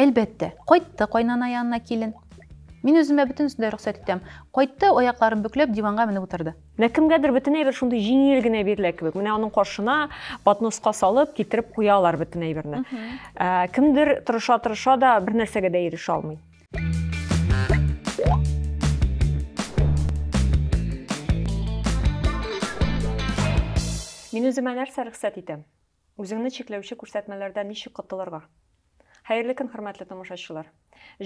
Әлбәттә, кайтты кайнана янына килен. Мин үземә бөтенесен дә рөхсәт итәм. Кайтты, аякларын бөкләп, диванга менеп утырды. Менә кемгәдер бөтен әйбер шундый җиңел генә бирелә кебек. Менә аның каршына подноска салып, китереп куялар бөтен әйберне. Ә, кемдер тырыша-тырыша да бер нәрсәгә дә ирешә алмый. Мин үземә нәрсә рөхсәт итәм? Үзеңне чикләүче күрсәтмәләрдән ничек котылырга? Хәерле көн, хөрмәтле тамашачылар!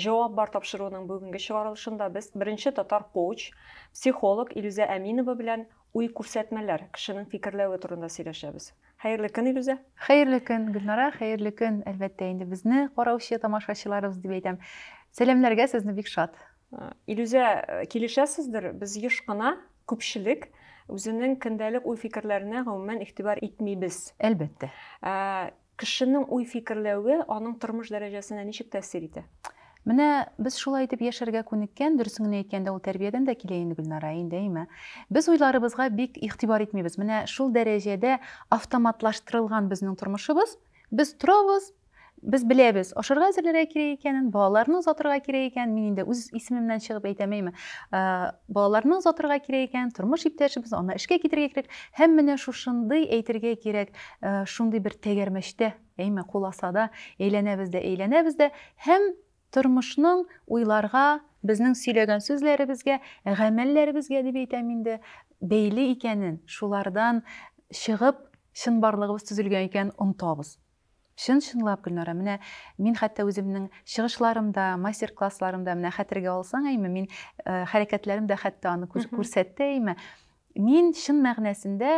Җавап бар тапшыруының бүгенге чыгарылышында без беренче татар коуч, психолог Илүзә Әминова белән уй-күрсәтмәләр, кешенең фикерләве турында сөйләшәбез. Хәерле көн, Илүзә! Хәерле көн, Гөлнара! Хәерле көн, әлбәттә инде, безне караучы тамашачыларыбыз дип әйтәм. Сәламләргә сезне бик шат! Илүзә, килешәсездер, без еш кына, күпчелек, үзенең көндәлек уй-фикерләренә гомумән игътибар итмибез. Әлбәттә. Кешенең уй-фикерләве аның тормыш дәрәҗәсенә ничек тәэсир итә? Менә без шулай итеп яшәргә күнеккән, дөресен генә әйткәндә, ул тәрбиядән дә килә инде, Гөлнара, әйе, әйме? Без уйларыбызга бик игътибар итмибез. Менә шул дәрәҗәдә автоматлаштырылган безнең тормышыбыз, без торабыз, Без беләбез, ашарга әзерләргә кирәк икәнен, балаларны озатырга кирәк икәнен, мин инде үз исемемнән чыгып әйтәмәйме, ә, балаларны озатырга кирәк икәнен, тормыш иптәшебез, аны эшкә китерергә кирәк, һәм менә шушындый, әйтергә кирәк, ә, шундый бер тәгәрмәчтә, әйме, куласада әйләнәбез дә әйләнәбез дә, һәм тормышның уйларга, безнең сөйләгән сүзләребезгә, гамәлләребезгә дип әйтәм инде, бәйле икәнен, шулардан чыгып, чынбарлыгыбыз төзелгән икәнен онытабыз. Чын-чынлап, Гөлнара, менә мин хәтта үземнең чыгышларымда, мастер-классларымда, менә хәтергә алсаң, әйме, мин хәрәкәтләрем дә хәтта аны күрсәтте, әйме. Мин чын мәгънәсендә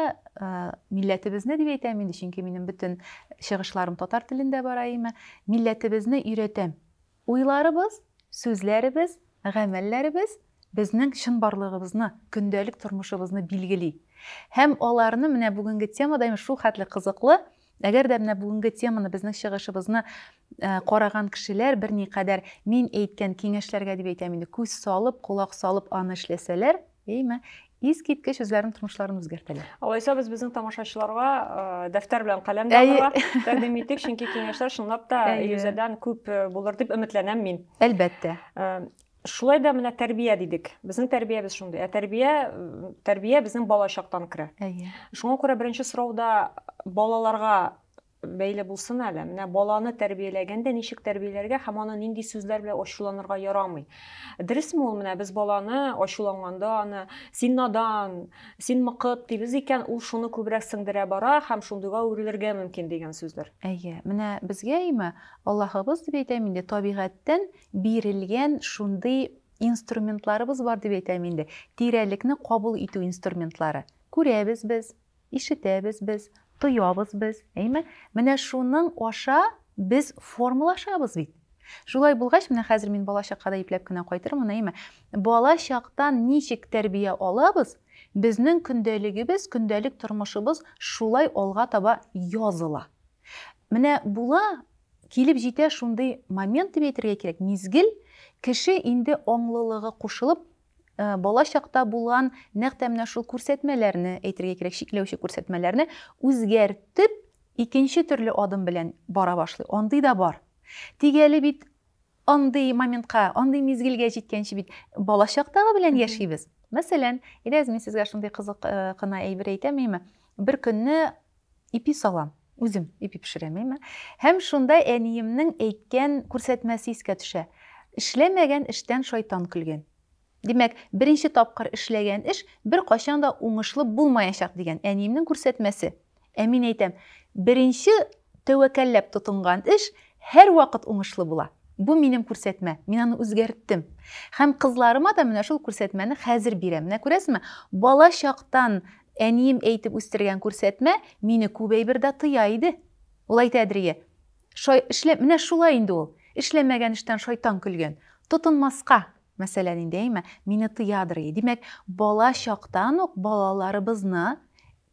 милләтебезне дип әйтәм инде, чөнки минем бөтен чыгышларым татар телендә бара, әйме, милләтебезне өйрәтәм. Уйларыбыз, сүзләребез, гамәлләребез безнең чынбарлыгыбызны, көндәлек тормышыбызны билгели. Һәм аларны менә бүгенге тема да шул хәтле кызыклы. Әгәр дә менә бүгенге теманы, безнең чыгышыбызны караган кешеләр берникадәр мин әйткән киңәшләргә дип әйтәм инде, күз салып, колак салып аны эшләсәләр, Әйме, искиткеч үзләренең тормышларын үзгәртәләр. Алайса без безнең тамашачыларга э, дәфтәр белән каләм дә алырга тәкъдим иттек, чөнки киңәшләр чынлап та Илюзәдән күп э, булыр дип өметләнәм мин. Әлбәттә. Э, шулай да менә тәрбия дидек. Безнең тәрбиябез шундый. Ә тәрбия тәрбия безнең балачактан керә. Әйе. Шуңа күрә беренче сорауда балаларга бәйле булсын әле. Менә баланы тәрбияләгәндә ничек тәрбияләргә һәм аны нинди сүзләр белән ачуланырга ярамый. Дөресме ул, менә без баланы ачуланганда аны син надан, син мыкыт дибез икән, ул шуны күбрәк сеңдерә бара һәм шундыйга үрелергә мөмкин дигән сүзләр. Әйе, менә безгә имә Аллаһыбыз дип әйтәм инде, табигатьтән бирелгән шундый инструментларыбыз бар дип әйтәм инде, тирәлекне кабул итү инструментлары. Күрәбез без, Ишетәбез без, тоябыз без, әйме? Менә шуның аша без формалашабыз бит. Шулай булгач, менә хәзер мин бала чаккада ипләп кенә кайтырмын, әйме? Бала чактан ничек тәрбия алабыз, безнең көндәлегебез, көндәлек тормышыбыз шулай алга таба языла. Менә була, килеп җитә шундый момент дип әйтергә кирәк, мизгел, кеше инде аңлылыгы кушылып, Э, бала чакта булган нәкъ тә менә шул күрсәтмәләрне әйтергә кирәк чикләүче күрсәтмәләрне үзгәртеп икенче төрле адым белән бара башлый андый да бар тик әле бит андый моментка андый мизгелгә җиткәнче бит бала чактагы белән яшибез мәсәлән иләз мин сезгә шундый кызык э, кына әйбер әйтәм әйме бер көнне Ипи салам. Үзем ипи пешерәм, әйме. Һәм шунда әниемнең әйткән күрсәтмәсе искә төшә, Эшләмәгән эштән шайтан көлгән. Димәк, беренче тапкыр эшләгән эш беркайчан да уңышлы булмаячак дигән әниемнең күрсәтмәсе. Ә мин әйтәм, беренче тәвәкәлләп тотынган эш һәрвакыт уңышлы була. Бу минем күрсәтмә, мин аны үзгәрттем. Һәм кызларыма да менә шул күрсәтмәне хәзер бирәм. Менә күрәсезме, бала чактан Әнием әйтеп үстергән күрсәтмә мине күп әйбердә тыя иде. Ул әйтә Әдригә, Шай, эшлә, менә шулай инде ул. Эшләмәгән эштән шайтан көлгән. Тотынмаска, мәсәлән инде, әйме, мине тыядыр и. Димәк, бала чактан ук балаларыбызны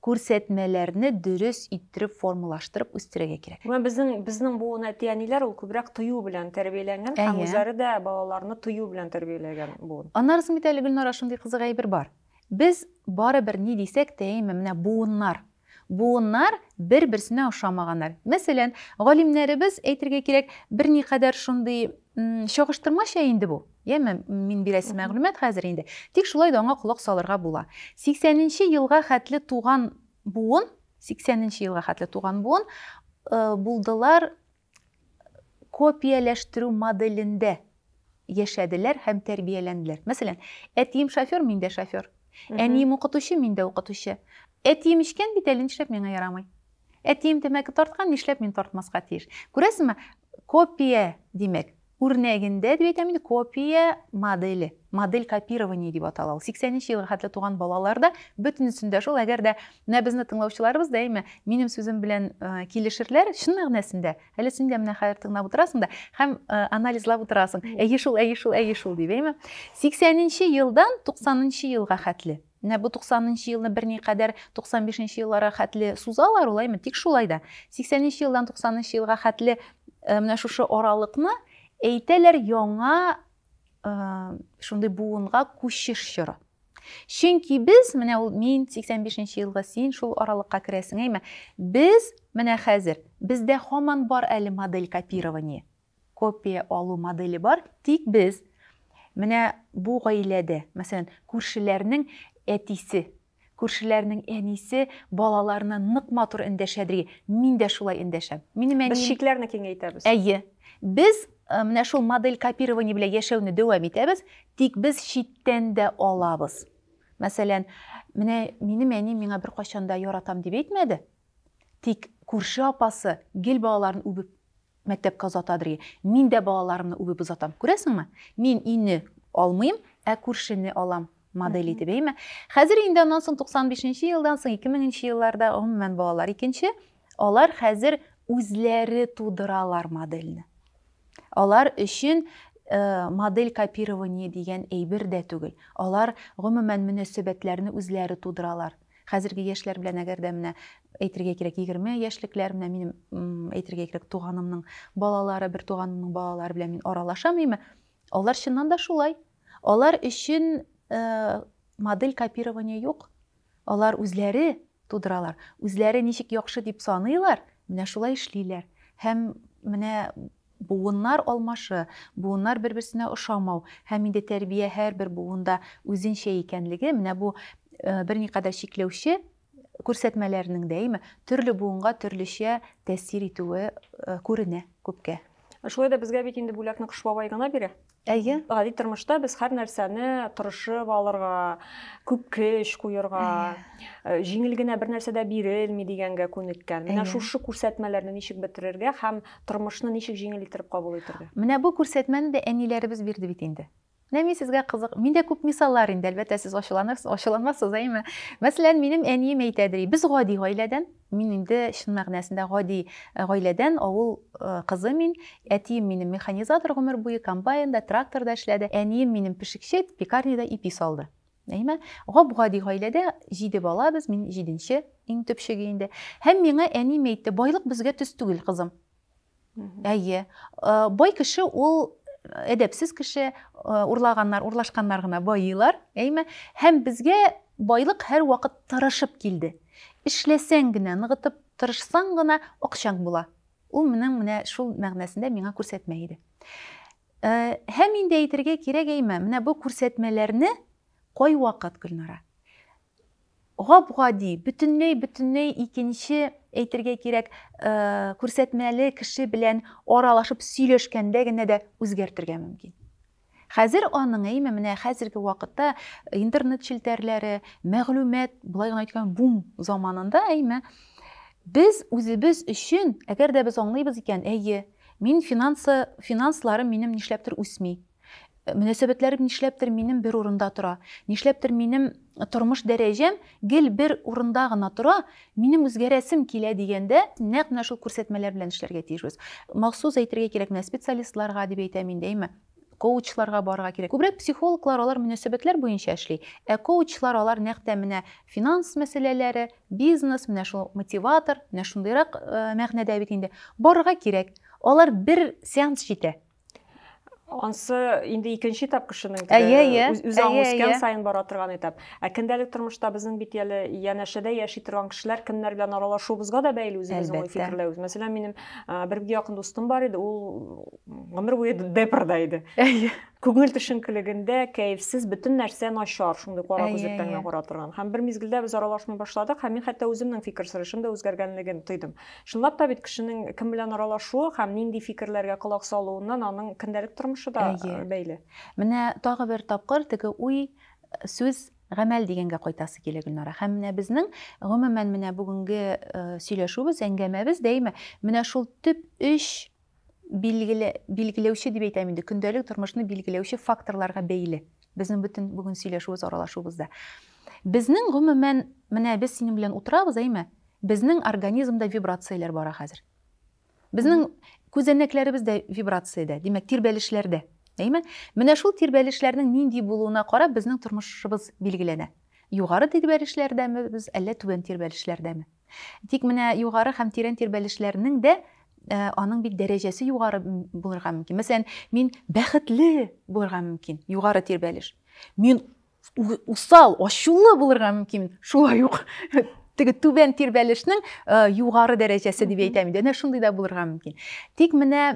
күрсәтмәләрне дөрес иттереп формалаштырып үстерергә кирәк. Менә безнең, безнең буын әти-әниләр ул күбрәк тыю белән тәрбияләнгән һәм үзләре дә балаларны тыю белән тәрбияләгән буын. Аннары соң бит әле, Гөлнара, шундый кызык әйбер бар. Без барыбер ни дисәк тә әйме, менә буыннар, буыннар бер-берсенә ошамаганнар. Мәсәлән, галимнәребез, әйтергә кирәк, берникадәр шундый чагыштырмача инде бу, яме, мин бирәсе мәгълүмат хәзер инде, тик шулай да аңа колак салырга була. 80 нче елга хәтле туган буын, 80 нче елга хәтле туган буын, булдылар, копияләштерү моделендә яшәделәр һәм тәрбияләнделәр. Мәсәлән, әтием шофер, мин дә шофер. Әнием укытучы, мин дә укытучы. Әтием эчкән бит әле, нишләп миңа ярамый? Әтием тәмәке тарткан, нишләп мин тартмаска тиеш? Күрәсеңме, копия, димәк, Үрнәгендә, дип әйтәм инде, копия моделе, модель копирования дип атала ул. 80 нче елга хәтле туган балалар да бөтенесен дә шул. Әгәр дә менә безне тыңлаучыларыбыз да әйме, минем сүзем белән килешерләр, чын мәгънәсендә, әле син дә менә хәзер тыңлап утырасың да һәм анализлап утырасың. Әйе шул, әйе шул, әйе шул дип, әйме? 80 нче елдан 90 нчы елга хәтле Менә бу 90 нчы елны берникадәр 95 нчы елларга хәтле сузалар, улаймы? Тик шулай да 80 нчы елдан 90 нчы елга хәтле э, менә шушы аралыкны әйтәләр яңа э, шундый буынга күчеш чоры. Чөнки без, менә ул мин 85 нче елга син шул аралыкка керәсең, әйме? Без менә хәзер бездә хаман бар әле модель копирования. копия алу моделе бар, тик без менә бу гаиләдә, мәсәлән, күршеләрнең әтисе, күршеләрнең әнисе балаларына нык матур эндәшә диге, мин дә шулай эндәшәм. Минем әнием... Без чикләрне киңәйтәбез. Әйе. Без э, менә шул модель копирования белән яшәүне дәвам итәбез, тик без читтән дә алабыз. Мәсәлән, менә минем әни миңа бер кайчан да яратам дип әйтмәде. Тик күрше апасы гел балаларын үбеп Мәктәпкә озата бергә. Мин дә балаларымны үбеп озатам. Күрәсеңме? Мин өйне алмыйм, ә күршене алам. Модель итеп, әйме? Хәзер инде аннан соң 95 нче елдан соң, 2000 нче елларда, гомумән, балалар икенче. Алар хәзер үзләре тудыралар модельне. Алар өчен модель копирование дигән әйбер дә түгел. Алар, гомумән, мөнәсәбәтләрне үзләре тудыралар. Хәзерге яшьләр белән әгәр дә менә әйтергә кирәк егерме яшьлекләр менә минем әйтергә кирәк туганымның балалары бер туганымның балалары белән мин аралашам име алар чыннан да шулай алар өчен э, модель копирования юк алар үзләре тудыралар үзләре ничек яхшы дип саныйлар менә шулай эшлиләр һәм менә Буыннар алмашы, буыннар бер-берсенә ошамау һәм инде тәрбия һәрбер буында үзенчә икәнлеге, менә бу берникадәр чикләүче күрсәтмәләрнең дә, әйме, төрле буынга төрлечә тәэсир итүе күренә күпкә. Шулай да безгә бит инде бүләкне Кыш бабай гына бирә. Әйе. Гади тормышта без һәр нәрсәне тырышып алырга, күп көч куерга, э, җиңел генә бер нәрсә дә бирелми дигәнгә күнеккән. Менә Әйе. шушы күрсәтмәләрне ничек бетерергә һәм тормышны ничек җиңел иттереп кабул итергә? Менә бу күрсәтмәне дә әниләребез бирде бит инде. Менә мин сезгә кызык, миндә күп мисаллар инде, әлбәттә, сез ачуланырсыз, ачуланмассыз, әйеме? Мәсәлән, минем әнием әйтә, ди, без гади гаиләдән, Мин инде чын мәгънәсендә гади гаиләдән, авыл кызы мин. Әтием минем механизатор гомер буе, комбайнда, тракторда эшләде. Әнием минем пешекче, пекарняда ипи салды. Әйме? Гап-гади гаиләдә җиде бала без, мин җиденче, иң төпчеге инде. Һәм миңа әнием әйтте, Байлык безгә төс түгел, кызым. Әйе. Э, бай кеше ул әдәпсез кеше, э, урлаганнар, урлашканнар гына байыйлар, әйме? Һәм безгә байлык һәр вакыт тырышып килде. Эшләсәң генә, ныгытып тырышсаң гына акчаң була. Ул минем менә шул мәгънәсендә миңа күрсәтмә иде. Э, һәм инде әйтергә кирәк әйме, менә бу күрсәтмәләрне кай вакыт Гөлнара? гап-гади, бөтенләй-бөтенләй икенче, әйтергә кирәк, күрсәтмәле кеше белән аралашып сөйләшкәндә генә дә үзгәртергә мөмкин. Хәзер аның, әйме, менә хәзерге вакытта интернет челтәрләре, мәгълүмат, болай гына әйткән бум заманында, әйме, без үзебез өчен, әгәр дә без аңлыйбыз икән, әйе, мин финансы, финансларым минем нишләптер үсми, Мөнәсәбәтләрем нишләптер минем бер урында тора. Нишләптер минем тормыш дәрәҗәм гел бер урында гына тора, минем үзгәрәсем килә дигәндә, нәкъ менә шул күрсәтмәләр белән эшләргә тиешбез. Махсус әйтергә кирәк, менә специалистларга дип әйтәм инде, әйме, коучларга барырга кирәк. Күбрәк психологлар алар мөнәсәбәтләр буенча эшли, ә коучлар алар нәкъ тә менә финанс мәсьәләләре, бизнес, менә шул мотиватор, менә шундыйрак мәгънәдә бит инде. Барырга кирәк. Алар бер сеанс җитә. ансы инде икенче этап кешенең әйе әйе үзе аңы үскән саен бара торган этап ә көндәлек тормышта безнең бит әле янәшәдә яши торган кешеләр кемнәр белән аралашуыбызга да бәйле үзебезнең уй фикерләвебез мәсәлән минем бер бик якын дустым бар иде ул гомер буе депрда иде әйе күңел төшенкелегендә кәефсез бөтен нәрсә начар шундый кара күзлек тәңгә кара торган һәм бер мизгелдә без аралашмый башладык һәм мин хәтта үземнең фикер сөрәшем дә үзгәргәнлеген тойдым Чынлап та бит кешенең кем белән аралашуы һәм нинди фикерләргә колак салуыннан аның көндәлек тормышы да бәйле. Менә тагы бер тапкыр теге уй, сүз, гамәл дигәнгә кайтасы килә, Гөлнара. Һәм менә безнең, гомумән, менә бүгенге сөйләшүебез, әңгәмәбез дә әйме, менә шул төп өч билгеле, билгеләүче дип әйтәм инде, көндәлек тормышны билгеләүче факторларга бәйле. Безнең бөтен бүген сөйләшүебез, аралашуыбызда. Безнең гомумән, менә без синең белән утырабыз, әйме? Безнең организмда вибрацияләр бара хәзер. Безнең күзәнәкләребез дә вибрациядә, димәк, тирбәлешләрдә. Әйме? Менә шул тирбәлешләрнең нинди булуына карап безнең тормышыбыз билгеләнә. Югары тирбәлешләрдәме без, әллә түбән тирбәлешләрдәме? Тик менә югары һәм тирән тирбәлешләрнең дә э, аның бит дәрәҗәсе югары булырга мөмкин. Мәсәлән, мин бәхетле булырга мөмкин, югары тирбәлеш. Мин усал, ачулы булырга мөмкин, шулай ук теге түбән тирбәлешнең э, югары дәрәҗәсе дип әйтәм инде. Әнә шундый да булырга мөмкин. Тик менә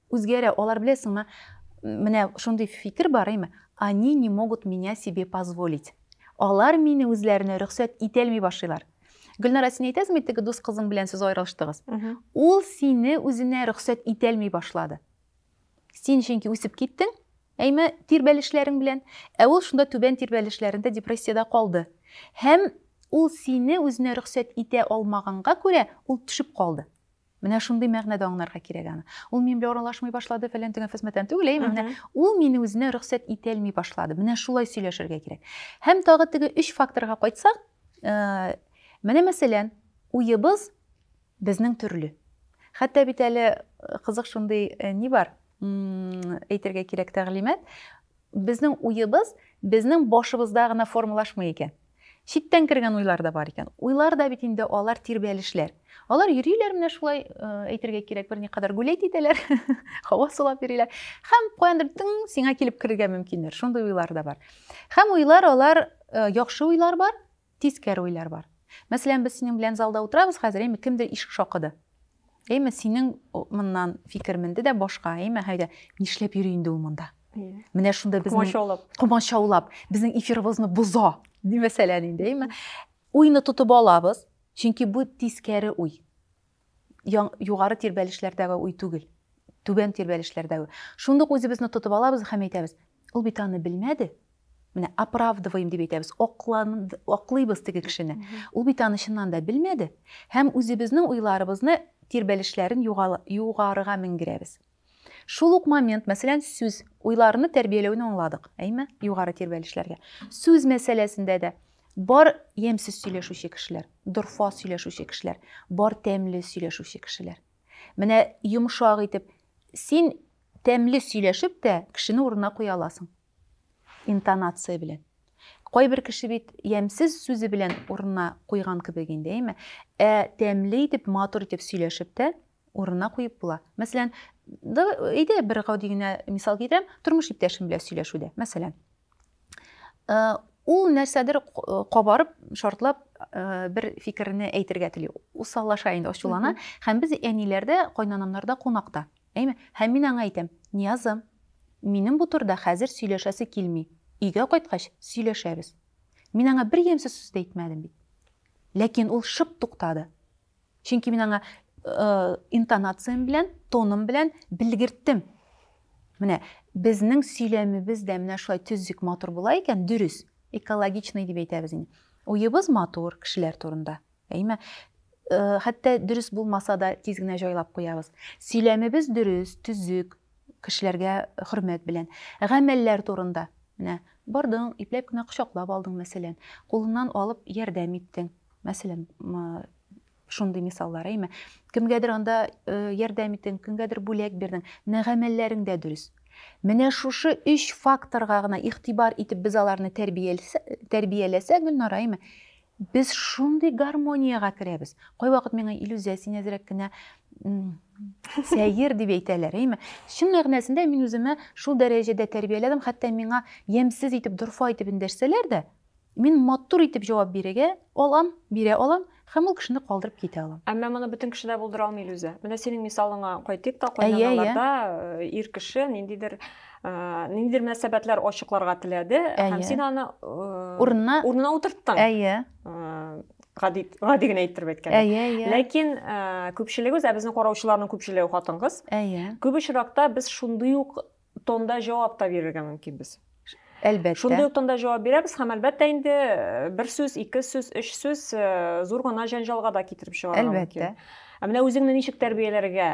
Үзгәрә, алар беләсеңме, менә шундый фикер бар име, они не могут меня себе позволить. Алар мине үзләренә рөхсәт итәлми башлыйлар. Гөлнара, син әйтәсеңме, теге дус кызың белән сез аерылыштыгыз? Ул сине үзенә рөхсәт итәлми башлады. Син чөнки үсеп киттең, әйме тирбәлешләрең белән, ә ул шунда түбән тирбәлешләрендә депрессиядә калды. Һәм ул сине үзенә рөхсәт итә алмаганга күрә, ул төшеп калды. Менә шундый мәгънәдә аңнарга кирәк аны. Ул мин белән аралашмый башлады, фәлән-төгән фәсмәтән түгел, әйеме? Менә ул мине үзенә рөхсәт итәлми башлады. Менә шулай сөйләшергә кирәк. Һәм тагы теге өч факторга кайтсак, менә мәсәлән, уебыз безнең төрле. Хәтта бит әле кызык шундый ни бар, әйтергә кирәк тәгълимат, Безнең уебыз безнең башыбызда гына формалашмый икән. Читтән кергән уйлар да бар икән. Уйлар да бит инде алар тирбәлешләр. Алар йөриләр менә шулай, әйтергә кирәк, берникадәр гулять итәләр, һава сулап йөриләр. Һәм каяндыр тың сиңа килеп керергә мөмкиннәр. Шундый уйлар да бар. Һәм уйлар алар, яхшы уйлар бар, Тискәре уйлар бар. Мәсәлән, без синең белән залда утырабыз хәзер, әйме, кемдер ишек шакыды. Әйме, синең моннан фикер менде дә башка, әйме, һәйдә, нишләп йөри инде ул монда? Менә шунда безнең комачаулап, комачаулап, безнең эфирыбызны боза, ди мәсәлән инде, әйме. Уйны тотып алабыз, чөнки бу тискәре уй. югары тирбәлешләрдәге уй түгел түбән тирбәлешләрдәге шундук үзебезне тотып алабыз һәм әйтәбез ул бит аны белмәде менә оправдываем дип әйтәбез аклыйбыз теге кешене ул бит аны чыннан да белмәде һәм үзебезнең уйларыбызны тирбәлешләрен югарыга менгерәбез Шул ук момент, мәсәлән, сүз, уйларны тәрбияләүне аңладык, әйме? Югары тирбәлешләргә. Сүз мәсьәләсендә дә бар ямьсез сөйләшүче кешеләр, дорфа сөйләшүче кешеләр, бар тәмле сөйләшүче кешеләр. Менә йомшак итеп, син тәмле сөйләшеп тә кешене урынына куя аласың. интонация белән. Кайбер кеше бит ямьсез сүзе белән урынына куйган кебек инде, әйме? Ә тәмле итеп, матур итеп сөйләшеп тә урынына куеп була. Мәсәлән, әйдә бер гади генә мисал китерәм, тормыш иптәшем белән сөйләшүдә. Мәсәлән, э, ул нәрсәдер кабарып, шартлап э, бер фикерне әйтергә тели. Усаллаша инде, ачулана. Һәм без әниләрдә, кайнанамнарда кунакта. Әйме, һәм мин аңа әйтәм, Ниязым, минем бу турыда хәзер сөйләшәсе килми, өйгә кайткач, сөйләшәбез. Мин аңа бер ямьсез сүз дә әйтмәдем бит. Ләкин ул шып туктады. Чөнки мин аңа интонациям белән, тоным белән белгерттем. Менә безнең сөйләмебез дә менә шулай төзек, матур була икән, дөрес, экологичный дип әйтәбез инде. Уебыз матур кешеләр турында. Әйме? Э, хәтта дөрес булмаса да тиз генә җайлап куябыз. Сөйләмебез дөрес, төзек, кешеләргә хөрмәт белән. Гамәлләр турында. Менә бардың, ипләп кенә кочаклап алдың, мәсәлән, кулыннан алып ярдәм иттең. Мәсәлән, шундый мисаллар, әйме? Кемгәдер анда э, ярдәм иттең, кемгәдер бүләк бирдең. Менә гамәлләрең дә дөрес. Менә шушы өч факторга гына игътибар итеп без аларны тәрбияләсәк, Гөлнара, әйме? Без шундый гармониягә керәбез. Кайвакыт миңа иллюзия син әзрәк кенә сәер дип әйтәләр, әйме? Чын мәгънәсендә мин үземә шул дәрәҗәдә тәрбияләдем, хәтта миңа ямьсез итеп, дорфа итеп эндәшсәләр дә, мин матур итеп җавап бирергә алам, бирә алам һәм ул кешене калдырып китә алам. Әмма моны бөтен кеше дә булдыра алмый Илүзә. Менә синең мисалыңа кайтыйк та, кайнаналарда ир кеше ниндидер Э, ниндидер мөнәсәбәтләр ачыкларга теләде һәм син аны э, урынына урынына утырттың әйе э, гади гади генә әйттереп әйткәндә әйе әйе ләкин күпчелегебез ә безнең караучыларның күпчелеге хатын кыз әйе күп очракта без шундый ук тонда җавап та бирергә мөмкинбез әлбәттә шундый ук тонда җавап бирәбез һәм әлбәттә инде бер сүз ике сүз өч сүз зур гына җәнҗалга да китереп чыгарга мөмкин әлбәттә ә менә үзеңне ничек тәрбияләргә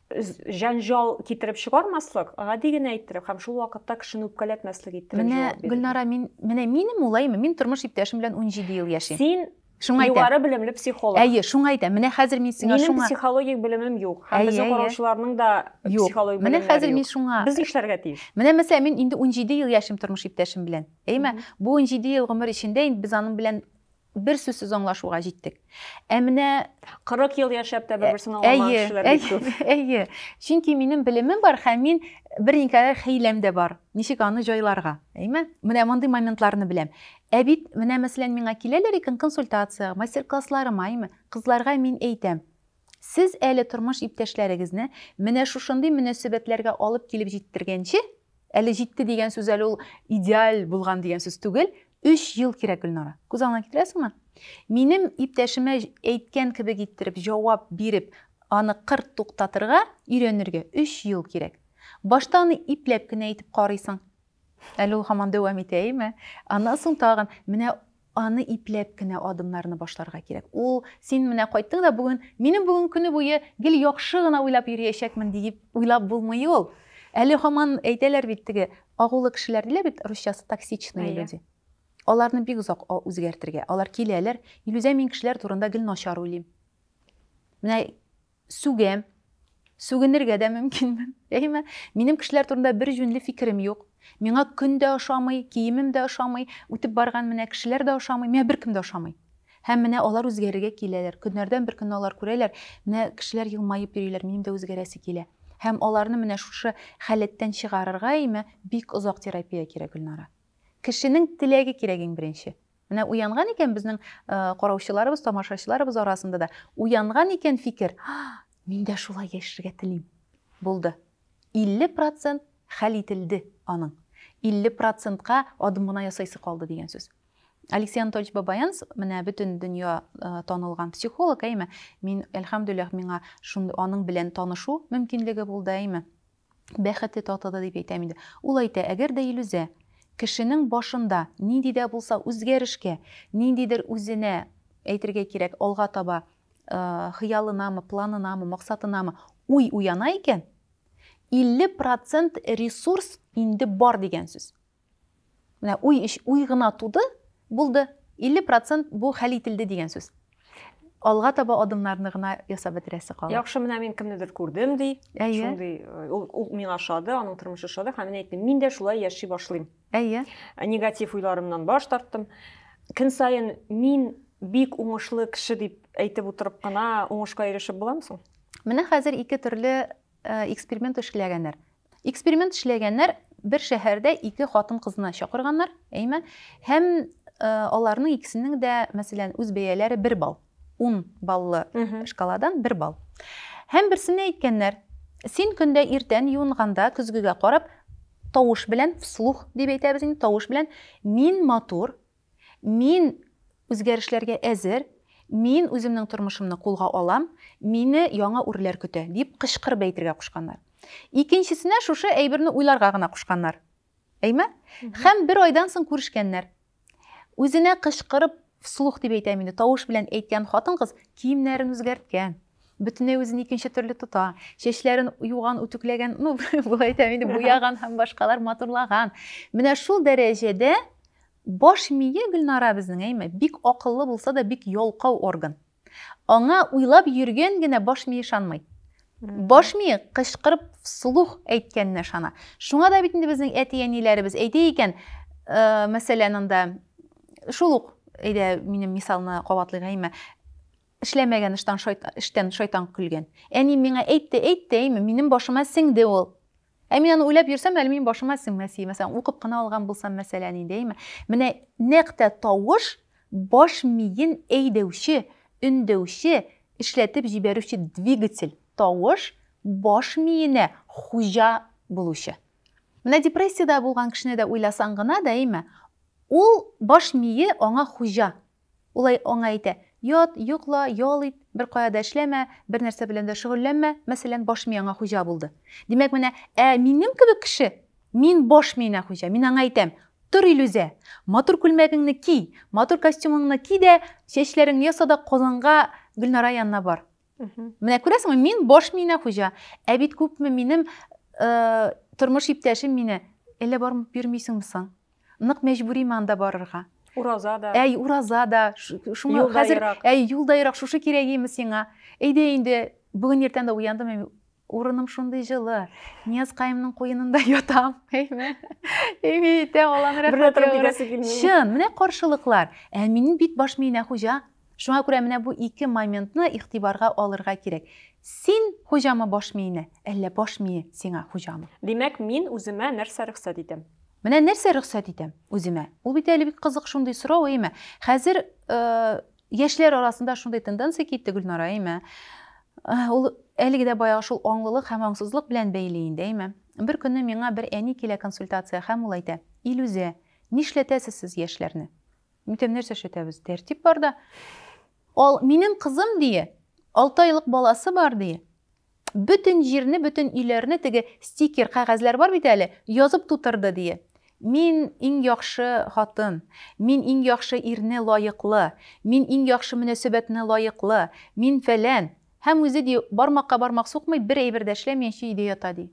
җәнҗал китереп чыгармаслык, гади генә иттереп һәм шул вакытта кешене үпкәләтмәслек иттереп менә, җавап бирә. Гөлнара, мин менә минем улайым, мин тормыш иптәшем белән 17 ел яшим. Син Шуңа әйтәм. Югары белемле психолог. Әйе, шуңа әйтәм. Менә хәзер мин сиңа шуңа. Минем психологик белемем юк. Һәм безнең караучыларның да психологик белеме юк. Менә хәзер мин шуңа. Без нишләргә тиеш? Менә мәсәлән, мин инде 17 ел яшим тормыш иптәшем белән. Әйме? Бу 17 ел гомер эчендә инде без аның белән Бер сүзсез аңлашуга җиттек. Ә менә 40 ел яшәп тә бер-берсен аңламаган кешеләр бик күп. Әйе. Чөнки минем белемем бар һәм мин бер никадәр хәйләм дә бар. Ничек аны җайларга, әйме? Менә мондый моментларны беләм. Ә бит менә мәсәлән миңа киләләр икән консультация, мастер-классларыма, әйме? Кызларга мин әйтәм, Сез әле тормыш иптәшләрегезне менә шушындый мөнәсәбәтләргә алып килеп җиттергәнче, әле җитте дигән сүз әле ул идеаль булган дигән сүз түгел, өч ел кирәк, Гөлнара. Күз алдына китерәсеңме? Минем иптәшемә әйткән кебек иттереп җавап биреп, аны кырт туктатырга өйрәнергә өч ел кирәк. Башта аны ипләп кенә әйтеп карыйсың. Әле ул һаман дәвам итә, әйеме? Аннан соң тагын менә аны ипләп кенә адымнарны башларга кирәк. Ул син менә кайттың да бүген, минем бүген көне буе гел яхшы гына уйлап йөриячәкмен диеп уйлап булмый ул. Әле һаман әйтәләр бит теге агулы кешеләр диләр бит русчасы токсичные люди. Аларны бик озак үзгәртергә. Алар киләләр, Илүзә мин кешеләр турында гел начар уйлыйм. Менә Сүгәм. Сүгенергә дә мөмкинмен. Әйеме? Минем кешеләр турында бер җүнле фикерем юк. Миңа көн дә ошамый, киемем дә ошамый, үтеп барган менә кешеләр дә ошамый, миңа беркем дә ошамый. Һәм менә алар үзгәрергә киләләр. Көннәрдән бер көнне алар күрәләр, менә кешеләр елмаеп йөриләр, минем дә үзгәрәсе килә. Һәм аларны менә шушы халәттән чыгарырга, әйеме, бик озак терапия кирәк, Гөлнара. Кешенең теләге кирәк иң беренче. Менә уянган икән безнең караучыларыбыз, тамашачыларыбыз арасында да уянган икән фикер, мин дә шулай яшәргә телим. Булды. 50 процент хәл ителде аның. 50 процентка адым гына ясайсы калды дигән сүз. Алексей Анатольевич Бабаянс, менә бөтен дөнья танылган психолог, әйме? Мин, әлхәмдүлилләх, миңа аның белән танышу мөмкинлеге булды, әйме? Бәхете татыды дип әйтәм инде. Ул әйтә, әгәр дә Илүзә кешенең башында нинди дә булса үзгәрешкә, ниндидер үзенә, әйтергә кирәк, алга таба хыялынамы, планынамы, максатынамы уй уяна икән, 50 процент ресурс инде бар дигән сүз. Менә уй, уй гына туды, булды. 50 процент бу хәл ителде дигән сүз. Алга таба адымнарны гына ясап бетерәсе кала. Яхшы, менә мин кемнедер күрдем, ди. Әйе. Шундый, э, ул, ул миңа ошады, аның тормышы ошады, һәм мин әйттем, мин дә шулай яши башлыйм. Әйе. Э, негатив уйларымнан баш тарттым. Көн саен мин бик уңышлы кеше дип әйтеп утырып кына уңышка ирешеп буламы соң? Менә хәзер ике төрле Эксперимент эшләгәннәр. Эксперимент эшләгәннәр, бер шәһәрдә ике хатын-кызны чакырганнар, әйме, һәм аларның икесенең дә, мәсәлән, үз бәяләре бер балл. Ун баллы шкаладан бер балл. Һәм берсенә әйткәннәр, син көндә иртән юынганда, көзгегә карап, тавыш белән, вслух дип әйтәбез инде, тавыш белән, мин матур, Мин үзгәрешләргә әзер, мин үземнең тормышымны кулга алам, мине яңа үрләр көтә, дип кычкырып әйтергә кушканнар. Икенчесенә шушы әйберне уйларга гына кушканнар. Әйме? Һәм бер айдан соң күрешкәннәр. Үзенә кычкырып, вслух дип әйтәм инде, тавыш белән әйткән хатын-кыз киемнәрен үзгәрткән. бөтенләй үзен икенче төрле тота. Чәчләрен юган, үтүкләгән, ну, болай әйтәм инде, буяган һәм башкалар матурлаган. Менә шул дәрәҗәдә баш мие Гөлнара безнең, әйме, бик акыллы булса да, бик ялкау орган. Аңа уйлап йөргән генә баш мие шанмый. Баш мие кычкырып сулух әйткәненә шана. Шуңа да бит инде безнең әти-әниләребез әйтә икән, мәсәлән, анда шул ук әйдә минем мисалны кабатлыйк, әйме, Эшләмәгән ыштан шайтан, эштән шайтан көлгән. Әнием миңа әйтте, әйтте, әйме, минем башыма сеңде ул. Ә мин аны уйлап йөрсәм, әле минем башыма сеңмәс иде. Мәсәлән, укып кына алган булсам, мәсәлән, инде, әйме. Менә нәкъ тә тавыш баш миен әйдәүче, өндәүче, эшләтеп җибәрүче двигатель. Тавыш баш миенә хуҗа булучы. Менә депрессиядә булган кешене дә уйласаң гына да, әйме, ул баш мие аңа хуҗа. Ул аңа әйтә, Ят, йокла, ял ит, беркая да эшләмә, бернәрсә белән дә шөгыльләнмә, мәсәлән, баш миеңа хуҗа булды. Димәк, менә, ә минем кебек кеше, мин баш миенә хуҗа, мин аңа әйтәм, Тор, Илүзә, матур күлмәгеңне ки, матур костюмыңны ки дә, чәчләреңне яса да Казанга Гөлнара янына бар. Менә күрәсеңме, мин баш миенә хуҗа. Ә бит күпме минем э, тормыш иптәшем мине әллә барып йөрмисеңме соң? Нык мәҗбүриме анда барырга? Ураза да. Әй, ураза да. Шуңа хәзер әй, юл да ерак, шушы кирәгиме сиңа? Әйдә инде, бүген иртән дә уяндым, Урыным шундый җылы. Нияз каемның куенында ятам. Әйме? Әйме итә алам рәхмәт. Чын, менә каршылыклар. Ә минем бит баш миенә хуҗа. Шуңа күрә менә бу ике моментны игътибарга алырга кирәк. Син хуҗамы баш миенә, әллә баш мие сиңа хуҗамы? Димәк, мин үземә нәрсә рөхсәт итәм? Менә нәрсә рөхсәт итәм үземә? Ул бит әле бик кызык шундый сорау, әйме? Хәзер э, Яшьләр арасында шундый тенденция китте, Гөлнара, әйме? Ул әлеге дә баягы шул аңлылык һәм аңсызлык белән бәйле инде, әйме? Бер көнне миңа бер әни килә консультация һәм ул әйтә, Илүзә, нишләтәсез сез яшьләрне? Мин әйтәм, нәрсә эшләтәбез? Тәртип бар да. Ал, минем кызым, дие, алты айлык баласы бар, дие. Бөтен җирне, бөтен өйләрне теге стикер, кәгазьләр бар бит әле, язып тутырды, дие. Мин иң яхшы хатын, мин иң яхшы ирне лаеклы, мин иң яхшы мөнәсәбәтне лаеклы, мин фәлән. Һәм үзе, ди, бармакка бармак сукмый, бер әйбер дә эшләмиенчә өйдә ята, ди.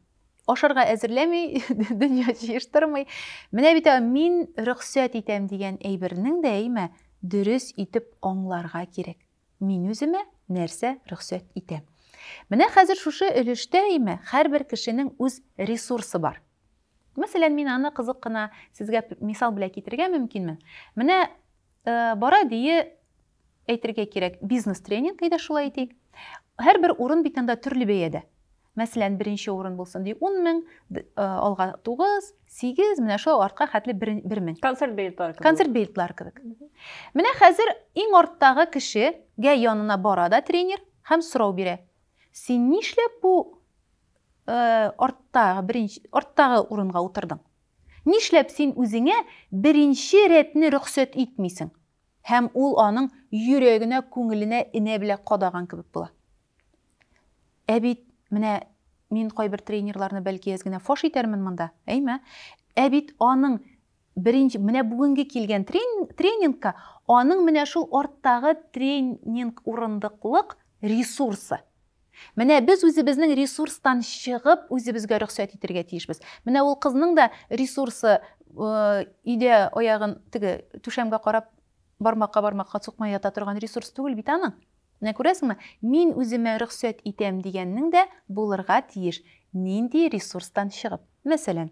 Ашарга әзерләми, дөнья җыештырмый. Менә бит мин рөхсәт итәм дигән әйбернең дә, әйме, дөрес итеп аңларга кирәк. Мин үземә нәрсә рөхсәт итәм? Менә хәзер шушы өлештә имә һәрбер кешенең үз ресурсы бар. Мәсәлән, мин аны кызык кына сезгә мисал белән китерергә мөмкинмен. Менә э, бара дие әйтергә кирәк, бизнес тренинг әйдә шулай әйтик. Һәрбер урын бит анда төрле бәядә. Мәсәлән, беренче урын булсын ди ун мең, алга тугыз, сигез, менә шулай артка хәтле бер мең. Концерт билетлары кебек. Концерт билетлары кебек. Менә хәзер иң арттагы кешегә янына бара да тренер һәм сорау бирә. Син нишләп бу э, арттагы беренче арттагы урынга утырдың? Нишләп син үзеңә беренче рәтне рөхсәт итмисең? Һәм ул аның йөрәгенә, күңеленә энә беләк кадаган кебек була. Ә бит, менә мин кайбер тренерларны бәлки әз генә фаш итәрмен монда, әйме? Ә бит аның беренче, менә бүгенге килгән тренингка аның менә шул арттагы тренинг урындыклык ресурсы, Менә без үзебезнең ресурстан чыгып, үзебезгә рөхсәт итергә тиешбез. Менә ул кызның да ресурсы өйдә аягын теге түшәмгә карап бармакка бармакка сукмай ята торган ресурс түгел бит аның. Менә күрәсеңме, мин үземә рөхсәт итәм дигәннең дә булырга тиеш нинди ресурстан чыгып. Мәсәлән,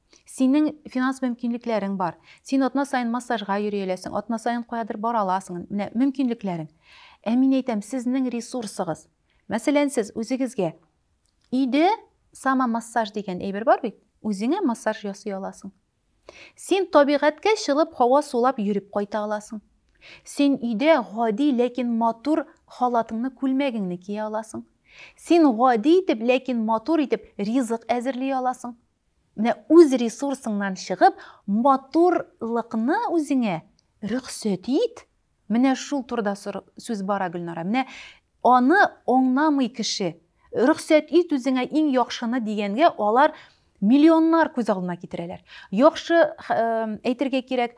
Синең финанс мөмкинлекләрең бар. Син атна саен массажга йөри әләсең, атна саен каядыр бара аласың. Менә мөмкинлекләрең. Ә мин әйтәм, сезнең ресурсыгыз. Мәсәлән, сез үзегезгә өйдә самомассаж дигән әйбер бар бит. Үзеңә массаж ясый аласың. Син табигатькә чыгып, һава сулап йөреп кайта аласың. Син өйдә гади, ләкин матур халатыңны, күлмәгеңне кия аласың. Син гади итеп, ләкин матур итеп ризык әзерли аласың. Менә үз ресурсыңнан чыгып, матурлыкны үзеңә рөхсәт ит. Менә шул турыда сүз бара, Гөлнара. Менә аны аңламый кеше. Рөхсәт ит үзеңә иң яхшыны дигәнгә, алар миллионнар күз алдына китерәләр. Яхшы, әйтергә кирәк,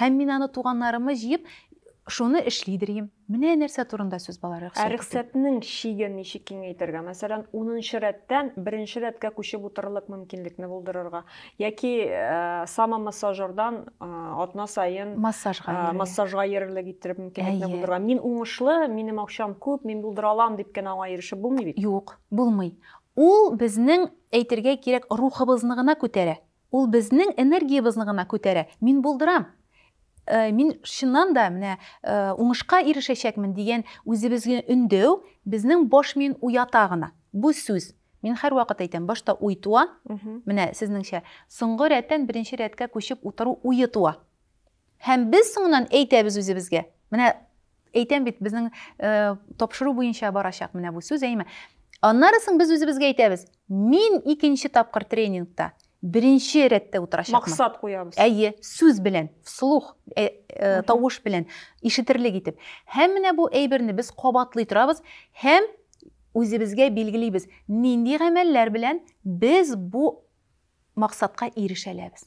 Һәм мин аны туганнарымы җыеп, шуны эшлидер им. Менә нәрсә турында сүз бала рөхсәт. Ә рөхсәтнең чиген ничек киңәйтергә? Мәсәлән, унынчы рәттән беренче рәткә күчеп утырырлык мөмкинлекне булдырырга. Яки самомассажердан атна саен массажга йөрерлек иттереп мөмкинлекне булдырырга. Мин уңышлы, минем акчам күп, мин булдыра алам дип кенә аңа ирешеп булмый бит. Юк, булмый. Ул безнең, әйтергә кирәк, рухыбызны гына күтәрә. Ул безнең энергиябезне гына күтәрә. Мин булдырам! Мин чыннан да менә уңышка ирешәчәкмен дигән үзебезгә өндәү безнең баш миен уята гына. Бу сүз, мин һәрвакыт әйтәм, башта уй туа, менә сезнеңчә, соңгы рәттән беренче рәткә күчеп утыру уе туа. Һәм без соңыннан әйтәбез үзебезгә. Менә әйтәм бит, безнең э, тапшыру буенча барачак менә бу сүз, әйме? Аннары соң без үзебезгә әйтәбез, мин икенче тапкыр тренингта беренче рәттә утырачакмын. Максат куябыз. Әйе, сүз белән, вслух, ә, ә, тавыш белән, ишетерлек итеп. Һәм менә бу әйберне без кабатлый торабыз һәм үзебезгә билгелибез, нинди гамәлләр белән без бу максатка ирешәләбез.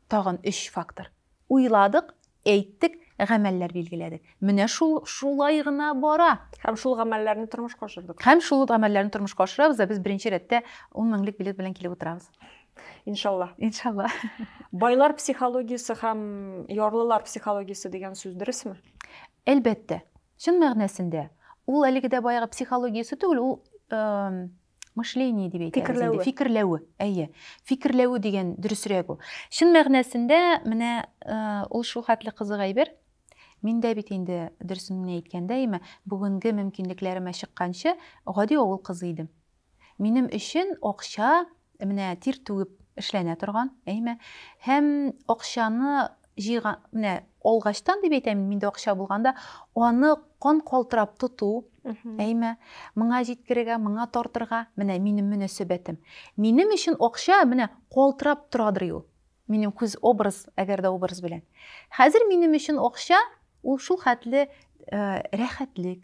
Тагын өч фактор. Уйладык, әйттек, гамәлләр билгеләдек. Менә шул шулай гына бара. Һәм шул гамәлләрне тормышка ашырдык. Һәм шул гамәлләрне тормышка ашырабыз да без беренче рәттә 10 меңлек билет белән килеп утырабыз. Иншалла. Иншалла. Байлар психологиясе һәм ярлылар психологиясе дигән сүз дөресме? Әлбәттә. Чын мәгънәсендә ул әлеге дә баягы психологиясе түгел, ул Мышление дип әйтәбез инде. Фикерләве. Фикерләве, әйе. Фикерләве дигән дөресрәк ул. Чын мәгънәсендә менә э, ул шул хәтле кызык әйбер. Мин дә бит инде дөресен генә әйткәндә, әйме, бүгенге мөмкинлекләремә чыкканчы гади авыл кызы идем. Минем өчен акча менә тир түгеп эшләнә торган, әйме, һәм акчаны җыйган, менә алгачтан дип әйтәм мин, миндә акча булганда, аны кан калтырап тоту, әйме, моңа җиткерергә, моңа тартырга, менә минем мөнәсәбәтем. Минем өчен акча менә калтырап торадыр ул. Минем күз образ, әгәр дә образ белән. Хәзер минем өчен акча ул шул хәтле э, рәхәтлек,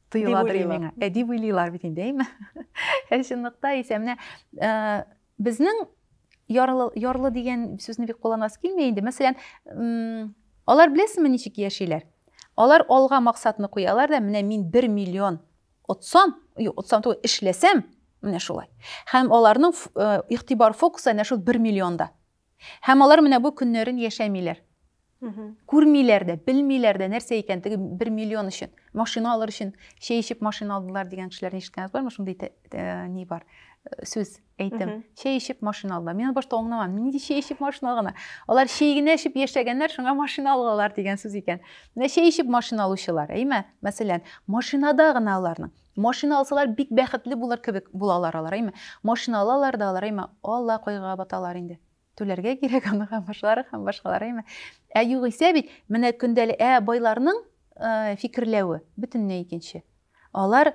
тоеладыр миңа. Ә дип уйлыйлар бит инде, әйме? Ә чынлыкта исә менә э, безнең ярлы, ярлы дигән сүзне бик кулланасы килми инде. Мәсәлән, алар беләсезме ничек яшиләр? Алар алга максатны куялар да, менә мин 1 миллион отсам, юк, отсам түгел, эшләсәм, менә шулай. Һәм аларның э, игътибар фокусы әнә шул 1 миллионда. Һәм алар менә бу көннәрен яшәмиләр. Күрмиләр дә, белмиләр дә, нәрсә икән теге бер миллион өчен, машина алыр өчен чәй эчеп машина алдылар дигән кешеләрне ишеткәнегез бармы? Шундый э, ни бар, э, сүз, әйтем. Чәй эчеп машина алдылар. Мин башта аңламам, нинди чәй эчеп машина алгана? Алар чәй генә эчеп яшәгәннәр, шуңа машина алгалар дигән сүз икән. Менә чәй эчеп машина алучылар, әйме? Мәсәлән, машинада гына аларның. Машина алсалар бик бәхетле булыр кебек булалар алар, әйме? Машина алалар да алар, әйме? Алла кайгыга баталар инде. Түләргә кирәк аны һәм башкалары һәм башкалар, әйме? Ә югыйсә бит менә көндәлек ә байларның э, фикерләве бөтенләй икенче. Алар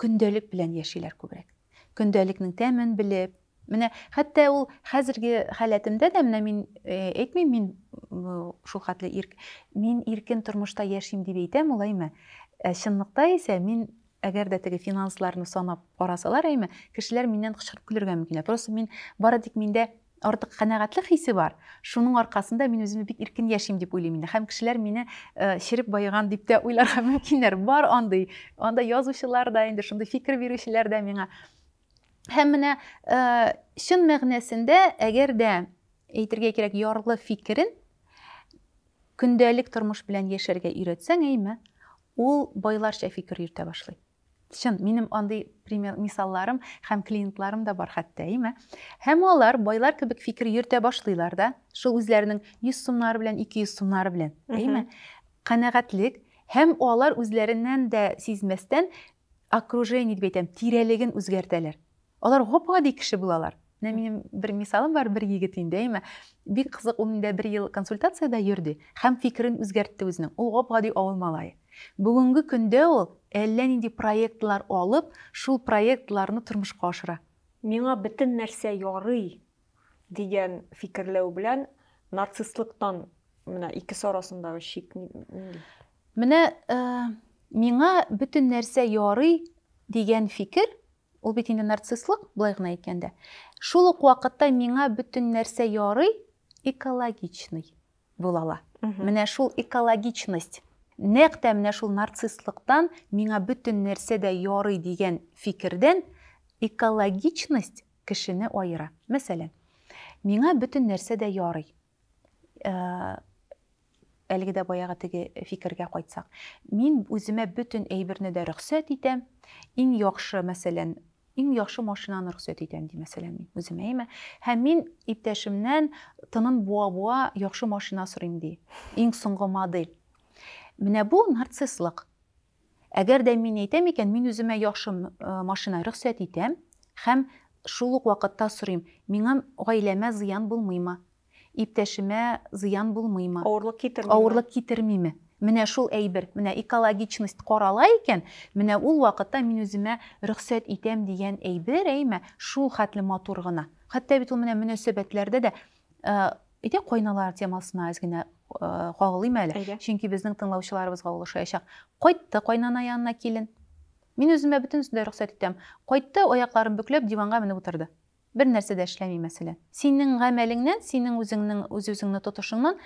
көндәлек белән яшиләр күбрәк. Көндәлекнең тәмен белеп, Менә хәтта ул хәзерге халәтемдә дә менә мин әйтмим мин шул хәтле ирк мин иркен тормышта яшим дип әйтәм ул әйме. Ә чынлыкта исә мин әгәр дә теге финансларны санап карасалар әйме, кешеләр миннән кычкырып көлергә мөмкин. Просто мин бары тик миндә артык канәгатьлек хисе бар. Шуның аркасында мин үземне бик иркен яшим дип уйлыйм инде. Һәм кешеләр мине череп байыган дип тә уйларга мөмкиннәр. Бар андый. Анда язучылар да инде шундый фикер бирүчеләр дә миңа Һәм менә э, чын мәгънәсендә, әгәр дә әйтергә кирәк, ярлы фикерен көндәлек тормыш белән яшәргә өйрәтсәң, әйме, ул байларча фикер йөртә башлый. Чын, минем андый пример мисалларым һәм клиентларым да бар хәтта, әйме. Һәм алар байлар кебек фикер йөртә башлыйлар да, шул үзләренең 100 сумнары белән, 200 сумнары белән, әйме. Канәгатьлек һәм алар үзләреннән дә сизмәстән окружение дип әйтәм, тирәлеген үзгәртәләр. Алар гап-гади кеше булалар. Менә минем бер мисалым бар, бер егет инде, әйме. Бик кызык, ул миндә бер ел консультациядә йөрде һәм фикерен үзгәртте үзенең. Ул гап-гади авыл малае. Бүгенге көндә ул әллә нинди проектлар алып, шул проектларны тормышка ашыра. Миңа бөтен нәрсә ярый дигән фикерләү белән нарцисстлыктан менә икесе арасындагы чик нинди? Менә миңа бөтен нәрсә ярый дигән фикер, ул бит инде нарцисслык, болай гына әйткәндә. Шул ук вакытта миңа бөтен нәрсә ярый, экологичный була ала. Менә шул экологичность, нәкъ тә менә шул нарцисслыктан, миңа бөтен нәрсә дә ярый дигән фикердән экологичность кешене аера. Мәсәлән, миңа бөтен нәрсә дә ярый. Э, әлеге дә баягы теге фикергә кайтсак мин үземә бөтен әйберне дә рөхсәт итәм иң яхшы мәсәлән иң яхшы машинаны рөхсәт итәм ди мәсәлән мин үземә әйме һәм мин иптәшемнән тынын буа буа яхшы машина сорыйм ди иң соңгы модель менә бу нарцисслык Әгәр дә мин әйтәм икән, мин үземә яхшы машина рөхсәт итәм һәм шул ук вакытта сорыйм, миңа, гаиләмә зыян булмыймы? Иптәшемә зыян булмыймы? Авырлык китермиме? Авырлык китермиме? Менә шул әйбер, менә экологичность карала икән, менә ул вакытта мин үземә рөхсәт итәм дигән әйбер, әйме, шул хәтле матур гына. Хәтта бит ул менә мөнәсәбәтләрдә дә Әйтәк, кайналар темасына әз генә кагылыйм әле. Чөнки безнең тыңлаучыларыбызга ул ошаячак. Кайтты кайнана янына килен. Мин үземә бөтенесен дә рөхсәт итәм. Кайтты, аякларын бөкләп, диванга менеп утырды. Бер нәрсә дә эшләми, мәсәлән. Синең гамәлеңнән, синең үзеңнең үз-үзеңне тотышыңнан,